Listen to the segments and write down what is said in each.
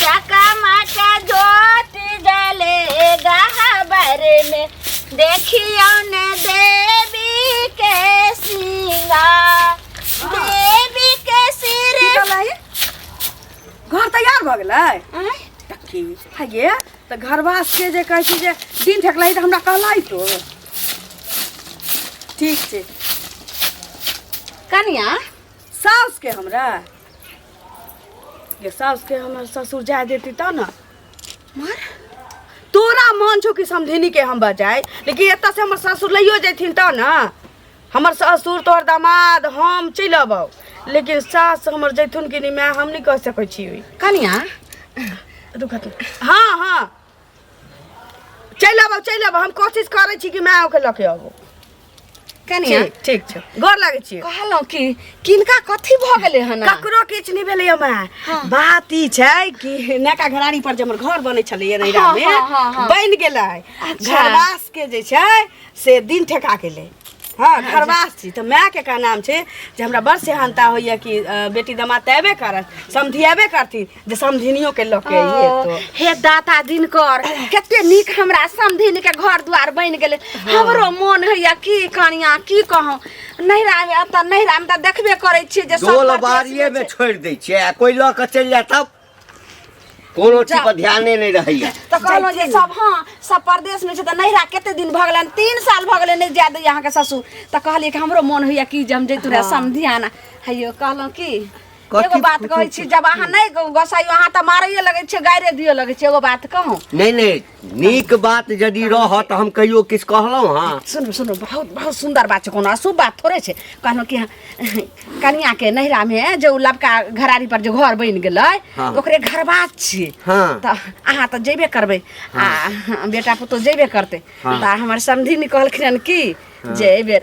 चकमक ज्योति जले गहबर में देखियो ने देवी के सिंगार देवी के सिर की कहला है? घर तैयार भऽ गेलै आँय? की हइये तऽ घरवास के जे कहै छी जे दिन ठकलै तऽ हमरा कहलै तो ठीक छै कनिया साउस के हमरा ये सास के हमर ससुर जाए देती तब ना मर तोरा मन छौ कि समधिनी के हम बजाय लेकिन एतऽ से हमर ससुर लइयो जैथिन तब ना हमर ससुर तोहर दामाद हम चलि अबौ लेकिन सास हमर जैथुन कि नहि माय हम नहि कह सकै छी कनिया रुकत हाँ हाँ चलि आबो चलि आबो हम कोशिश करै छी कि मैं ओके लऽ के आबो कनिया ठीक ठीक छै गोर लागै छी कहलहुँ कि किनका कथी भऽ गेलै हन ककरो किछु नहि भेलै हमरा हाँ। बात ई छै कि नका घरानी पर जे हमर घर बनै छलैए नैरा हाँ, मे हाँ, हाँ, हाँ। बनि गेलै अच्छा। घरवास के जे छै से दिन ठेका गेलै हाँ घरवास छी तऽ माय के का नाम छै जे हमरा बड़ सेहानता होइए कि अ, बेटी दमाद तऽ अयबे करत समधियेबे करथिन जे समधिनियो के लऽ के आइए ओ, तो हे दाता दिनकर कते नीक हमरा समधिन के घर दुआर बनि गेलै हमरो मोन होइया की कनिया की कहूँ नैहरा मे एतऽ नैहरा मे तऽ देखबे करै छियै जे सब डोल परदेश बाड़िए मे में छै। छोड़ि दै छियै आ कोइ लऽ कऽ चलि जाय तब कोनो चीज पर ध्याने नहि रहैया तऽ कहलहुँ जे सब हँ सब परदेश मे छै तऽ नैहरा कते दिन भऽ गेलै तीन साल भऽ गेलै नहि जाय दैया अहाँके ससुर तऽ कहलियै कि हमरो मोन होइया कि जे हम जैतू रहे समधियाना हैयो कहलहुँ की एगो कथी बात फुटू कहै छी फुटू? जब अहाँ नहीं गोसाई अहाँ तऽ मारैये लगै छियै गाइरे दियो लगै छियै एगो बात कहूँ नहीं नहीं नीक बात यदि रह तो हम कहियो किछु कहलहुँ हाँ सुनू सुनू बहुत बहुत सुंदर बात छै कोनो अशुभ बात थोड़े छै कहलहुँ कि कनिया के नैहरा में जो लबका घरारी पर जो घर बनि गेलै हाँ। ओकरे घरबास छियै हाँ। तऽ अहाँ तऽ जेबे करबै आ बेटा पुतोह जेबे करतै हाँ। तऽ हमर समधिनी कहलखिन हन कि जे एहि बेर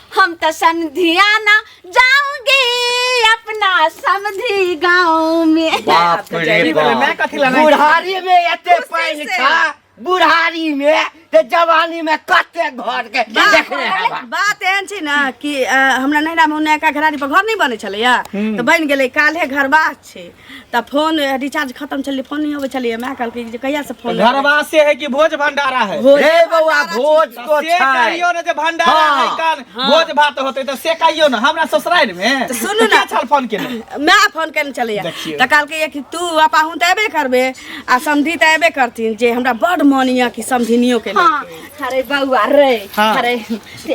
हम तो समधिया ना जाऊंगी अपना समधी गांव में बाप रे चली बोले, मैं बाप कथी लाना है? बुढ़ारी में एते खुशी पानि से। खा बुढ़ारी में ते जवानी में कते घर के देखने हवा बात एहन छै ने कि अ, हमरा नैहरा मे नयका घरारी पर घर नहि बनै छलैया तऽ बनि गेलै काल्हे घरबा छै तऽ फोन रिचार्ज खत्म छलै फोन नहि अबै छलै माय कहलकै जे कहिया से फोन घरवा से है कि भोज भंडारा है भोज हे बौआ भोज तो से छै कहियो ने जे भंडारा हाँ। है कान भोज भात होते तो से कहियो ने हमरा ससुराल में सुनू तो ने। क्या छल फोन के ने माय फोन केने छलैया देखियौ। तऽ कहलकै कि तू आ पाहुन तऽ एबे करबे आ समधी तऽ एबे करथिन जे हमरा बड मन यऽ कि समधिनियो के लेल। हाँ, अरे बउआ रे हाँ। अरे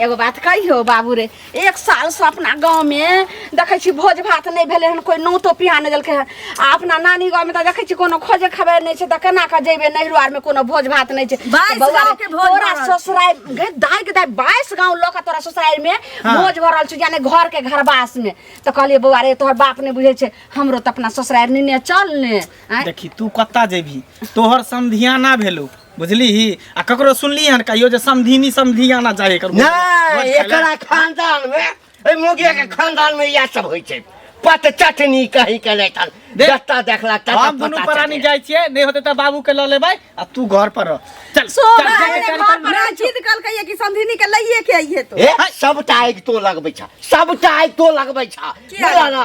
एगो बात कहियो बाबू रे एक सालसँ अपना गाँवमे देखै छी भोज भात नहि भेलै हन कोइ नोतो पिहा नहि देलकै हन आ अपना नानी गाँवमे तऽ देखै छी कोनो खोजे खबर नहि छै तऽ केना कऽ जेबै नैहरो आरमे कोनो भोज भात नहि छै बाइस तऽ बौआ रे, गाँवके भोज तोरा भऽ रहल छै। ससुरारि गे दाइ गे दाइ बाइस गाँव लऽ कऽ तोरा ससुरारिमे हाँ। भोज भऽ रहल छै यानी घरके घरवासमे तऽ कहलियै बौआ रे तोहर बाप नहि बुझै छै हमरो तऽ अपना ससुरारि नेने चल ने आँय? देखी तू कत्ता जेबही तोहर समधियाना भेलू बुझलीही आ ककरो सुनली हन कहियो जे समधिनी समधी आना चाही एकर मुँह। नहीं भोज खाय ले। एकरा खानदान में ए मुगिया के खानदान में यह सब होई छै पत चटनी कहीं के नहीं थल दे। जत्ता देखला तत्ता हम दुनू पता परानी चले। जाइ छियै नहि होते तऽ बाबू के लऽ लेबै आ तू घर पर रह चल चल, सोना जा के रे घर पर पर रह। जीत कल कहिए कि समधिनी के लइए के आइए तो ए सबटा आगि तो लगबै छ सबटा आगि तो लगबै छ किया? बोला ना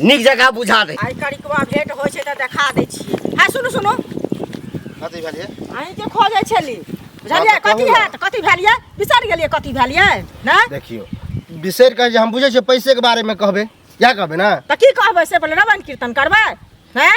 नीक जगह बुझा दे आइ करिकवा भेंट होइ छै तऽ देखा दै छियै है सुनू सुनू कथी भेलिए अहीं के खोजै छली बुझलियै कथी है तऽ कथी भेलियै बिसरि गेलियै कथी भेलियै ने देखियो बिसरि कहे हम बुझे छियै पैसे के बारे में कहबे क्या कहबे ना तऽ की कहबै से पहिले रवन कीर्तन करबै हैं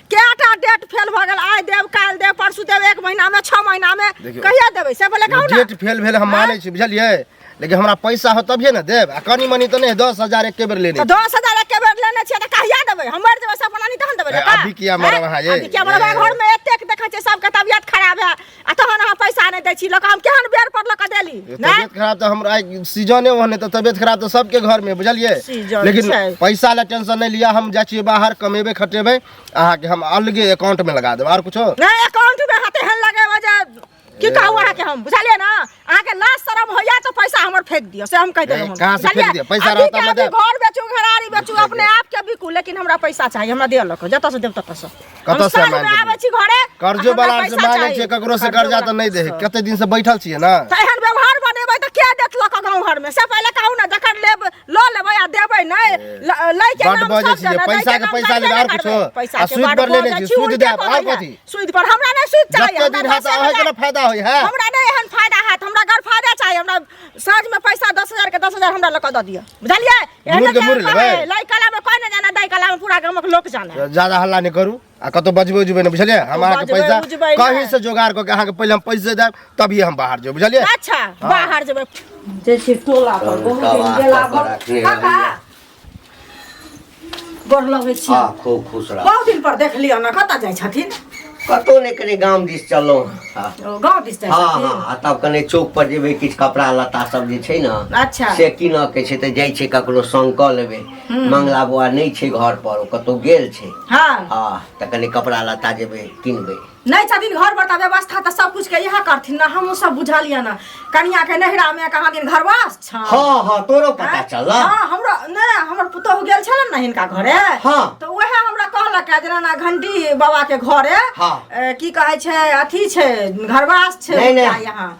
केटा डेट फेल भऽ गेल आइ देब काल्हि देब परसू देब एक महीनामे छओ महीनामे देखियौ। कहिया देबै से पहिले कहू ने डेट फेल भेल हम मानै छी बुझलियै लेकिन हमरा पैसा हो तभिए ने देब आ कनी मनी तऽ नहि दस हजार एके बेर लेने तऽ दस हजार एके बेर लेने छियै तऽ कहिया देबै हम मरि जेबै सब बनानी तहन देबै ए, ने का? अभी किया मरब अहाँ ये? अभी किया मरब अहाँ? घरमे एतेक देखै छियै सबके तबियत खराब है आ तहन अहाँ पैसा नहि दै छी लोक हम केहन बेर पर लोक देली तबियत खराब तऽ हमरा सीजने ओहन है तऽ तबियत खराब तऽ सबके घर में बुझलिए लेकिन पैसा ला टेंशन नहीं लिया हम जाए बाहर कमेबे खटेबे अहाँ के हम अलगे अकाउंट में लगा देब और कुछ नहीं अकाउंट में हाथे हन लगे वजह की कहू अहाँ के हम बुझलिए ना अहाँ के लाज शरम होइया तो पैसा हमर फेंक दियो से हम कह देलो ए, कहाँ से फेंक दियो? पैसा रहत हमरा देब। घर बेचू घरारी बेचू अपने आप के बिकू लेकिन हमरा पैसा चाहिए हमरा दियो लको जत से देब तत से कतऽ से हम साँझ मांगि में देब? आबै छी घरे कर्जो हमरा बला से पैसा मांगे चाहिए। छियै ककरो से कर्जा तऽ नहि दे है कते दिन से बैठल छियै ने तऽ एहन व्यवहार बनेबै तऽ के देत लऽ कऽ गाँव घरमे से पहिले कहू ने जखन लेब लऽ लेबै आ देबै नहि ल- लै के बड नाम बजै सब छियै जना, दै पैसा के नाम पैसा सब लेबै जना आओर कुछो करबै। पैसा आ के सूद बड पर लेने बजै छियै छी, सूद उल्टे देब आओर कहबै। कथी सूद पर हमरा नहीं सूद चाहिए जते दिन हाथ आवे के फायदा होई है हमरा नहीं एहन फायदा हाथ हमरा घर फायदा चाहिए हमरा साँझ में पैसा 10000 के 10000 हमरा लगा द दिया बुझलिए एहन के मुर लेबे लाई कला में कोई नहीं जाना दाई कला में पूरा गांव के लोग जाना ज्यादा हल्ला नहीं करू आ कतो बजबे उजबे नहीं बुझलिए हम अहाँ के पैसा कहीं से जोगाड़ करके अहाँ के पहले हम पैसे देब तभी हम बाहर जेब बुझलिए अच्छा हाँ। बाहर जेब जे टोला पर बहुत दिन गेला काका गोर लगै छी आ खूब खुश रह बहुत दिन पर देख लियौ ने कतऽ जाइ छथिन कतौ नहि कने गाम दिस चललहुँ हँ ओ गाँव दिस जाइ हँ छथिन हँ आ तब कने चौक पर जेबै किछु कपड़ा लत्ता सब जे छै ने अच्छा से कीनऽ के छै तऽ जाइ छै ककरो संग कऽ लेबै मंगला बौआ नहि छै घर पर ओ कतौ गेल छै हँ हँ तऽ कने कपड़ा लत्ता जेबै किनबै नहीं छथिन घर पर तऽ व्यवस्था तऽ सब कुछ के इएह करथिन ना हमहूँ सब बुझलियै ना कनिया के नहिरा में कहाँ दिन घरवास छ हाँ हाँ तोरो पता चल हाँ हमरा ने हमर पुतोहु गेल छलन ना हिनका घरे हाँ। तऽ उएह हमरा कहलक है जेना ना घंटी बाबा के घरे हाँ। ए, की कहै छै अथी छै घरवास छै नहीं हुनका नहीं यहाँ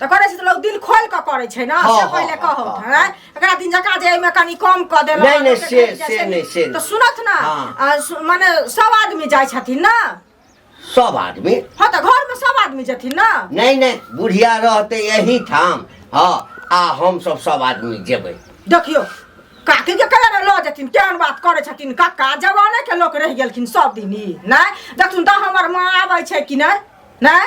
तऽ करै छै तऽ लोग दिल खोल कऽ करै छै ने हँ, से हँ, पहिले हँ, कहब हँ, हैं एकरा दिन जका जे एहिमे कनि कम कऽ देलक नहि, नहि, से- जैसे से नहि, से तऽ नहि। सुनत ना हँ। आ सु- माने सब आदमी जाइ छथिन ना सब आदमी हँ तऽ घर में सब आदमी जेथिन ना नहीं नहीं बुढ़िया रहते यही ठाम हाँ आ हम सब सब आदमी जेबे देखियो काकी के कहे लऽ जेथिन केहन बात करै छथिन काका जवाने के लोक रहि गेलखिन सब दिन ई नहि देखथुन तऽ हमर माँ आबै छै कि नहि नहि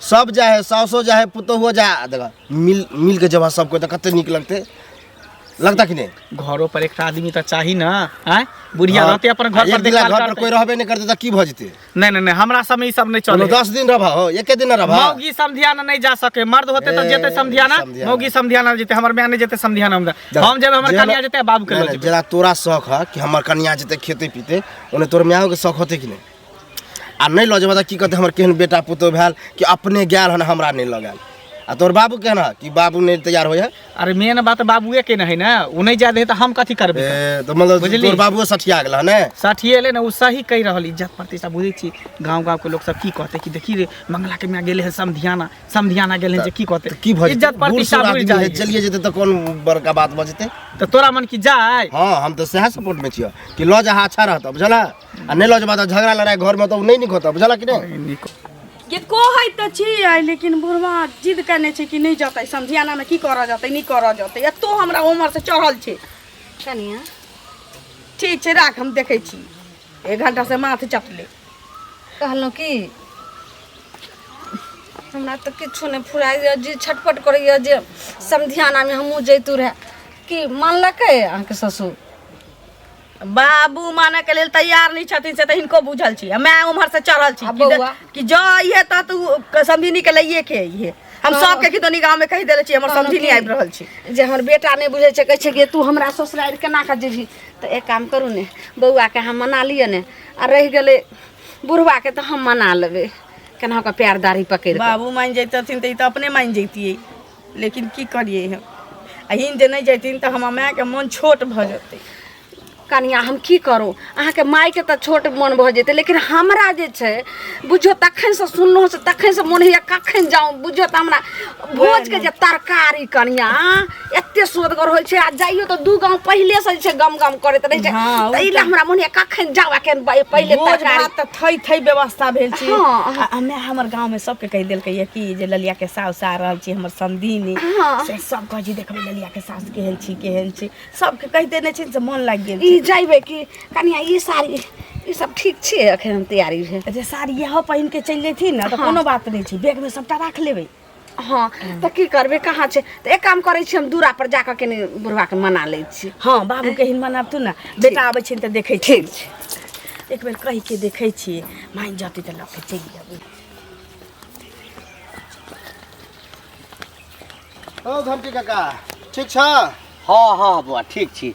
सब जा है सासो जा है पुतोहो जा है। देखा मिल मिल के जब सबको तो कते नीक लगते लगता कि नहीं घरो पर एक आदमी तो चाही ना आय बुढ़िया रहते अपन घर एक पर दिन देखभाल घर पर करते कोई रहबे नहीं करते तो की भऽ जेतै नहीं नहीं नहीं हमरा समय ई सब नहीं कोनो चले दस दिन रहबा हो एके दिन रहबा मौगी समधियाना नहीं जा सके मर्द होते तो ए, जेते समधियाना समधियाना। मौगी समधियाना जेते हमर माय नहीं जेते समधियाना हम जा। हम जेबे हमर कन्या जेते बाबू के नहीं, लऽ नहीं, जेबे जेना तोरा शौक है कि हमर कन्या जेते खेते पीते ओने तोर मायो के शौक होते कि नहीं आ नहि लऽ जेबह तऽ की कहतै हमर केहन बेटा पुतहु भेल कि अपने गेल हन हमरा नहि लऽ गेल आ तोहर बाबू केहन हँ कि बाबू नहि तैयार होइए अरे मेन बात बाबुए के नहीं ना वो नहीं जाए दे तो हम कथी करबे ए, तऽ मतलब बुझली। तोहर बाबुओ सठिया गेल हन ने साथी एले ना वो सही कह रहल इज्जत प्रतिष्ठा बुझे छी गांव गांव के लोग सब की कहते कि देखी रे मंगला के मियां गेले हैं समधियाना समधियाना गेले हैं जे की कहते की भऽ जेतै? इज्जत बूढ़ प्रतिष्ठा सूढ़ बुझ आदमी जाए है, चलिए जेतै तऽ कोन बड़का बात भऽ जेतै तो तोरा मन की जाए हँ हम तऽ सएह सपोर्टमे छियै कि लऽ जा अच्छा रहतऽ बुझल है आ नहीं लज बात झगड़ा लड़ाई घर में तो नहीं निक होता बुझला कि नहीं निक के कहै त छियै लेकिन बुढ़वा जिद करने छै कि नहीं जतै समझियाना में की करऽ जतै नहीं करऽ जतै एतो हमरा उम्र से चढ़ल छै कनिया ठीक छै राख हम देखै छी एक घंटा से माथ चटले कहलहुँ कि हमरा तऽ किछो नहि फुराइए जे छटपट करैए जे समधियानामे हमहूँ जैतू रहए कि मानलकै अहाँके ससुर बाबू माने के लेल तैयार नहीं छथिन से तो इनको बुझल छी मैं उम्हर से चढ़ल छी कि, दे, कि जो ये तो तू समझिनी के लिए के ये हम हाँ। सब के कितनी गांव में कह देले छी हमर समझी नहीं आबि रहल छी जे हमर बेटा नहीं बुझे छे कह छे कि तू हमरा ससुराल केना का जेबी तो एक काम करू ने बौआ के हम मना लिए ने आ रह गेले बुढ़वा के तो हम मना लेबे केना का प्यारदारी पकड़ बाबू मान जैतथिन त तो अपने मान जैतिए लेकिन की करिए हम अहिन जे नहि जैथिन तऽ हमर मायके मन छोट भऽ जेतै कनिया हम की करू अहाँके मायके तऽ छोट मोन भऽ जेतै लेकिन हमरा जे छै बुझियौ तखनसँ सुनलहुँ से तखनसँ मोन होइए कखन जाउ बुझियौ तऽ हमरा भोजके जे तरकारी कनिया एते सोदगर होइ छै आ जाइयो तऽ दू गाँव पहिलेसँ जे छै गम गम करैत रहै छै हँ, ओ ताहि लए हमरा मोन होइए कखन जाउ एखन पहिले भोज तरकारी भात तऽ थै थै व्यवस्था भेल छै हँ, हँ। आ- आ माय हमर गाँव में सबके कह दिल कहिए कि जे ललिया के सास आ रहल छी हमर संदीनी हाँ। से सब कह जी देखबे ललिया के सास केहन छी केहन छी सबके कह देने छी से मन लाग गेल ई जाइबे कि कनिया ई साड़ी ई सब ठीक छै अखन हम तैयारी है जे साड़ी यह पहिन के चल जेथी ना तो हाँ। कोनो बात नहीं छी बैग में सबटा राख लेबे हँ तऽ की करबै कहाँ छै तऽ एक काम करै छी हम दूरा पर जाकऽ कनि बुढ़वा के मना लै छी हँ बाबू के हिन मनाब तू ने बेटा आबै छै तऽ देखै छी ठीक छै एक बेर कहि के देखै छी माइन जतै तऽ लऽ के चलि जेबै ओ घंटी काका ठीक छ हँ हँ बौआ ठीक छी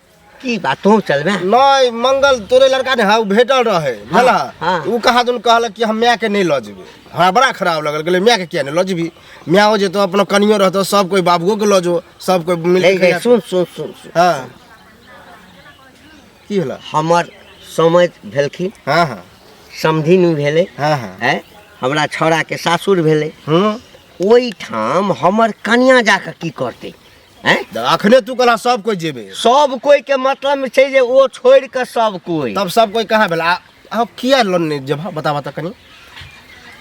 की बात तू चलबे नहीं मंगल तोरे लड़का ने हाउ भेटल रहे भला हाँ। उ कहा दुन कहल कि हम माय के नहीं ल जेबे हमरा बड़ा खराब लगल गेले माय के किया नहीं ल जेबी माय हो जेतो अपना कनियो रहतो सब कोई बाबुओ के ल जो सब कोई मिल ले के ले खिया- सुन सुन सुन सुन हाँ की होला हमर समझ भेलखिन हाँ हाँ समधिन भेलै हाँ हाँ है हमरा छौड़ा के सासुर भेलै हम्म ओहिठाम हमर कनिया जाके की करतै हैं? देख, अखने तू कहला सब कोई जेबे सब कोई के मतलब में छै जे ओ छोड़ के सब कोई तब सब कोई कहाँ भेला आ- आ किया लोन नहीं जेबा बता बता कनी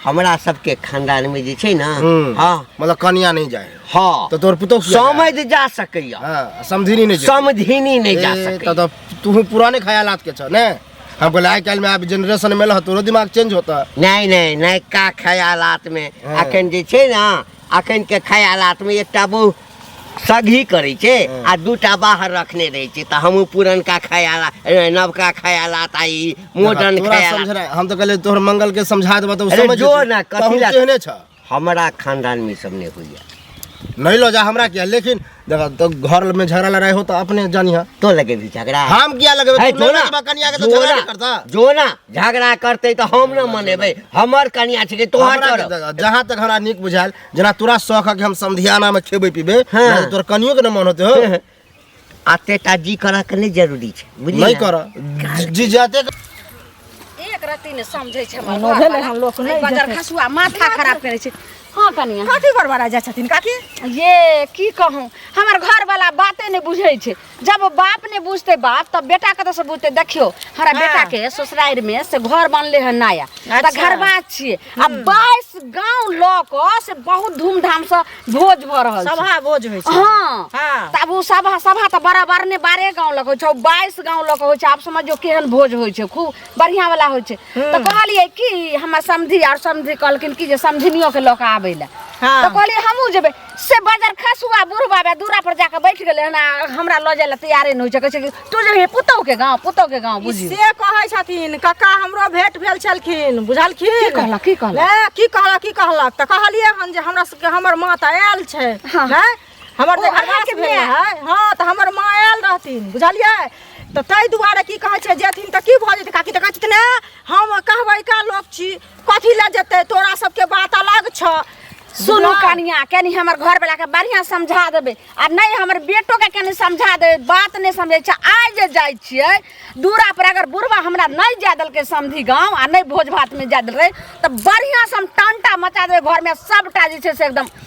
हमरा सबके खानदान में जे छै ना हम्म। हाँ मतलब कनिया नहीं जाए हाँ तो तोर पुतौ किया जाए? समझ जा सकैया हाँ, समझिनी नहीं जेबे। समझिनी नहीं जा ए, सकै त त तू पुराने ख्यालात के छ ने हम कहले आइ काल्हि में आब जनरेशन में लह तोरो दिमाग चेंज होता नहीं नहीं नहीं का ख्यालात में हाँ। अखन जे छै ना अखन के ख्यालात में एकटा बहु सगही करै छै आ दूटा बाहर रखने रहै छै तऽ हमहूँ पुरनका ख्याला ए, नवका ख्यालात आ ई मॉडर्न तोरा ख्यालात समझना है। हम तो कहले तोहर मंगल के समझा देबा तो अरे समझ जो जेतै। ना, कथी तहूँ ला- केहने छ हमरा खानदान में ई सब नहि होइए नहीं लो जा हमरा किया लेकिन देखा तो घर में झगड़ा लड़ाई हो तो अपने जानिया तो लगे भी झगड़ा हम किया लगे है, तू जोना, लड़बा कनिया के तो जोना, झगड़ा नहीं करता जोना झगड़ा करते तो हम न मनेबे हमर कनिया छिके तोहर हमरा के करब। जगह, जहाँ तक हमरा नीक बुझायल जेना तोरा शौक है कि हम समधियाना में खेबे पीबे हाँ। ना तो तोर कनियो के न मन होते हो आते टा जी करा के नहीं जरूरी छै बुझलियै नहीं ना? कर जी जाते एक रत्ती ने समझै छै हमर एहनो घर भेलै वाला। हन लोक नहि बजर जेतै। खसुआ माथा खराब करै छै हँ कनिया कथी बड़बड़ा जाइ छथिन काकी ये की कहूँ हमर घर वाला बाते नहि बुझै छै जब बाप ने बुझते बाप तब बेटा कतऽ से बुझते देखियो हमरा हाँ। बेटा के ससुरारि में से घर बनले है नया अच्छा। तऽ घरबा छियै आ बाईस गांव ल क से बहुत धूमधाम से भोज भ रहल छै सभा भोज होइ छै हाँ हाँ। तब ओ सभा सभा तऽ बराबर ने बारह गांव लग होइ छै बाईस गांव लग होइ छै आब समझियो केहन भोज होइ छै खूब बढ़िया वाला होइ छै तऽ कहलियै कि हमर समधी आर समधी कहलखिन कि जे समधिनियो के लऽ कऽ आबै लए हाँ। तऽ कहलियै हमहूँ जेबै से बाजार खास हुआ बूढ़ बाबा दूरा पर जाके बैठ गेले हन आ हमरा लऽ जाए ला तैयारे नहि होइ छै कहै छै कि तू जे हे पुतौ के गाँव पुतौ के गाँव बुझी से कहै छथिन कक्का हमरो भेंट भेल छलखिन की बुझलखिन कहलक की कहलक ए, की कहलक की कहलक तऽ कहलियै हन जे हमरा सबके हमर माँ तऽ आयल छै हाँ। हैं? हमर ओ, जे घरवास अहाँके भेल माय। रहै हँ तऽ हमर माँ आयल रहथिन बुझलियै तऽ ताहि दुआरे की कहै छै जेथिन तऽ की भऽ जेतै काकी तऽ कहै छथिन "ए, हम कहबै का लोक छी कथी लऽ जेतै तोरा सबके बात अलग छ सुनू कनिया कनी हमर घर वाला के बढ़िया समझा देबे आ नहीं हमर बेटो के कनी समझा देबे बात नहीं समझे छै आइ जे जाइ छियै दूरा पर अगर बुढ़वा हमरा नहीं जा देलकै समधी गांव आ नहीं भोज भात में जा देल रहे तऽ बढ़िया से हम टंटा मचा देबे घर में सबटा जे छै से एकदम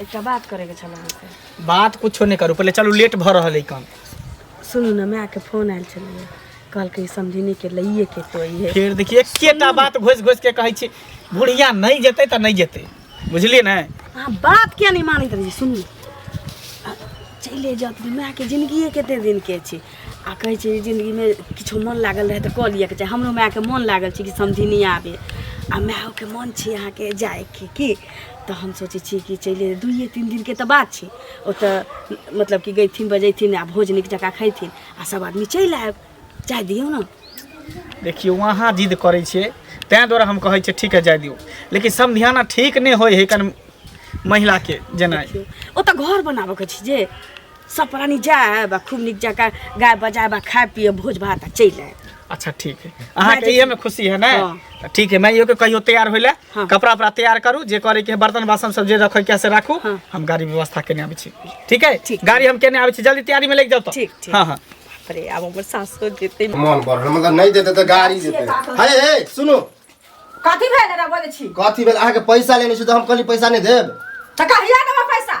एकटा बात करैके छल अहाँके बात कुछो नहि करू पहिले चलू लेट भऽ रहल है काम सुनू ने मायके फोन आयल छलै कहलकै समझिनी के लइए के तो अइहे फेर देखिए एकेटा बात घोसि घोसि के कहै छी बुढ़िया नहि जेतै तऽ नहि जेतै बुझलियै ने अहाँ बात किया नहि मानैत रही सुनू आ, चले जात मायके जिन्दगिए कते दिनके छै आ कहै छै जिन्दगीमे किछो मन लागल रहै तऽ कऽ लिअके चाही हमरो मायके मन लागल छै कि समझिनी आबे आ मायोके मन छै अहाँके जायके की तऽ हम सोचै छियै कि चलि दुइए तीन दिनके तऽ बात छै ओतऽ मतलब कि गयथिन बजैथिन आ भोज नीक जकाँ खयथिन आ सब आदमी चलि आयब जाय दियौ ने देखियौ अहाँ जिद करै छियै तैँ दुआरे हम कहै छियै ठीक है जाय दियौ लेकिन समधियाना ठीक नहि होइ है कन महिलाके जेनाइ देखियौ ओतऽ घर बनाबऽके छै जे सब प्राणी जाए बा खूब निक जका गाय बजाए बा खाए पिए भोज भात आ चलि आए अच्छा ठीक है अहाँ के ये में खुशी है ना हाँ। तो ठीक है मैं यो के कहियो तैयार होइले हाँ। कपड़ा उपड़ा तैयार करू जे करे के है, बर्तन बासन सब जे रखे के है से राखू हाँ। हम गाड़ी व्यवस्था केने आबै छी ठीक है ठीक। गाड़ी हम केने आबै छी जल्दी तैयारी में लेके जाओ तो ठीक, ठीक। हाँ हाँ अरे अब हमर सासो देते मन पर मतलब नहीं देते तो गाड़ी देते हे हे सुनो कथी भेल रे बोले छी कथी भेल अहाँके पैसा लेने छी तऽ हम कहली पैसा नहि देब त कहिया देबो पैसा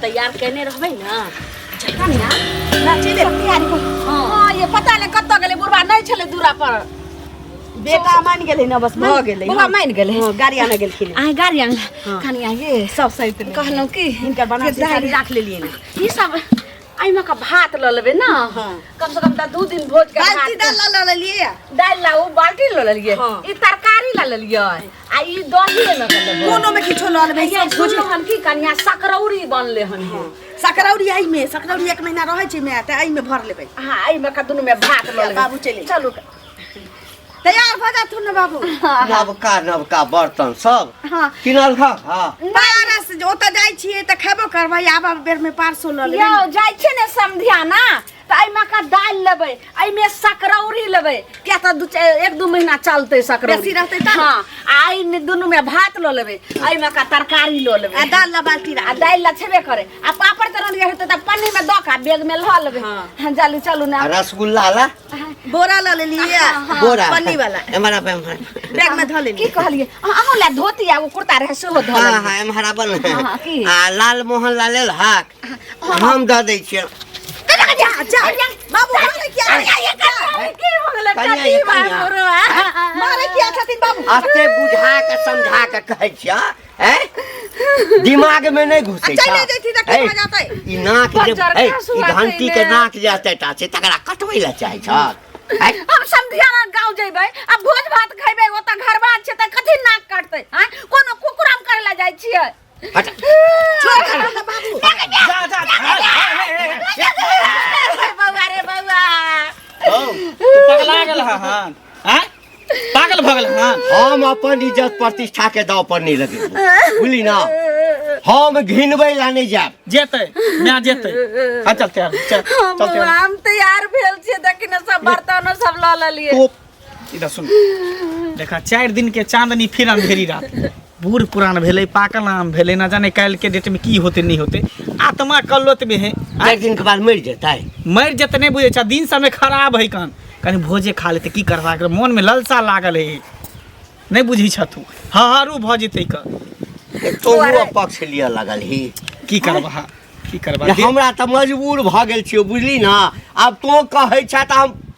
तैयार केने रहबै ने जखन ने नाचे दे तैयारी को हां ये पता नहीं कत गेले बुढ़वा नहीं छले दूरा पर बेटा मान गेले ना बस भ गेले बुढ़वा मान गेले हां गाड़ी आने गेलखिन आ गाड़ी आने हाँ। खानी आगे सब सहित कहलो कि इनकर बना के गाड़ी राख लेलिए ना ई सब आइमा का भात ल लेबे ना हाँ। कम से कम त दू दिन भोज के बाल्टी दाल ल लेलिए दाल ला उ बाल्टी ल लेलिए हाँ। ई तरकारी ल लेलिए आ ई दही में के देबो कोनो में किछो लऽ लेबै भैया सोच सुनो हम की कन्या सकरौरी बनले हन हे। सकरौरी आई में सकरौरी एक महीना रहै छै में तऽ आई में भर लेबै हाँ आई में का दुनू में भात लऽ लेबै। बाबू चलि। चलू तैयार भऽ जाथु ने बाबू नवका नवका बर्तन सब हाँ किनल खा हाँ पारस जे ओतऽ जाइ छियै तऽ खेबो करबै आबऽ बेर में पारसो लऽ लेबै यौ जाइ छै ने समधिया ना तऽ एहिमे का दालि लेबै एहिमे सकरौरी लेबै किया तऽ दू चा- एक दू महीना चलतै सकरौरी बेसी रहतै तऽ? हाँ आ एहिमे दुनूमे भात लऽ लेबै एहिमे का तरकारी लऽ लेबै आ दाल ला बाल्टी आ दालि ला छेबे करे आ पापड़ तऽ रंधिया हेतै तऽ पन्नी मे दऽ के आ बैग मे लऽ लेबै हाँ। हाँ जालू चलू ना आ रसगुल्ला ला बोरा ला लेली बोरा पन्नी वाला एम्हर आब एम्हर बैग में धऽ की लेली कहलियै अहाँ अहाँ ला धोती आ एगो कुर्ता रहै सेहो धऽ हाँ लेलियै। हाँ एम्हर आब ने हाँ, की? आ लाल मोहन ला लेल हक हम दऽ दै छियै बाबू मारे किया कनिया ये कनिया मारे किया छथिन बाबू अते बुझा के समझा के कहै छियै हैं दिमाग में नहीं घुसे चले जैती त की भऽ जातै ई नाक जे बजर है, का ई सुआ घंटी के कइले। नाक जे हतै टा से तकरा कटबै लए चाहै छ हैं? हम समधिया ना गांव जेबै आ भोज भात खैबै ओतऽ घर बात छै तऽ कथी नाक काटतै हैं कोनो कुकुराम करे ला जाइ छियै बौआ रे बौआ हौ, तू पगला गेल हन आँय? पागल भगल हन हम अपन इज्जत प्रतिष्ठा के दाव पर नहीं लगे बुझली ना हम घिनबै ला नहीं जाब जेतै माय जेतै हम चलते आब चल हम चलते आब हम तैयार भेल छियै देखी ने सब बर्तन सब लऽ लेलियै तो इधर सुन देखा चारि दिन के चांदनी फिर अंधेरी रात बूढ़ पुरान भेलै पाकल आम भेलै ना जाने काल्हि के डेट में की होते नहीं होते आत्मा कल्लोत में है आ एक दिन के बाद मर जाता है मरि जेतै नहि बुझै छह दिन समय खराब है कान कनि भोजे खा लेतै की करबा एकरा मोन में ललसा लागल है नहि बुझै छह तू हहारू भऽ जेतै क तो हुआ पक्ष लिया लगल ही की करबा की करबा जे हमरा तऽ मजबूर भऽ गेल छियौ बुझली ना आब तो कहै छह तऽ हम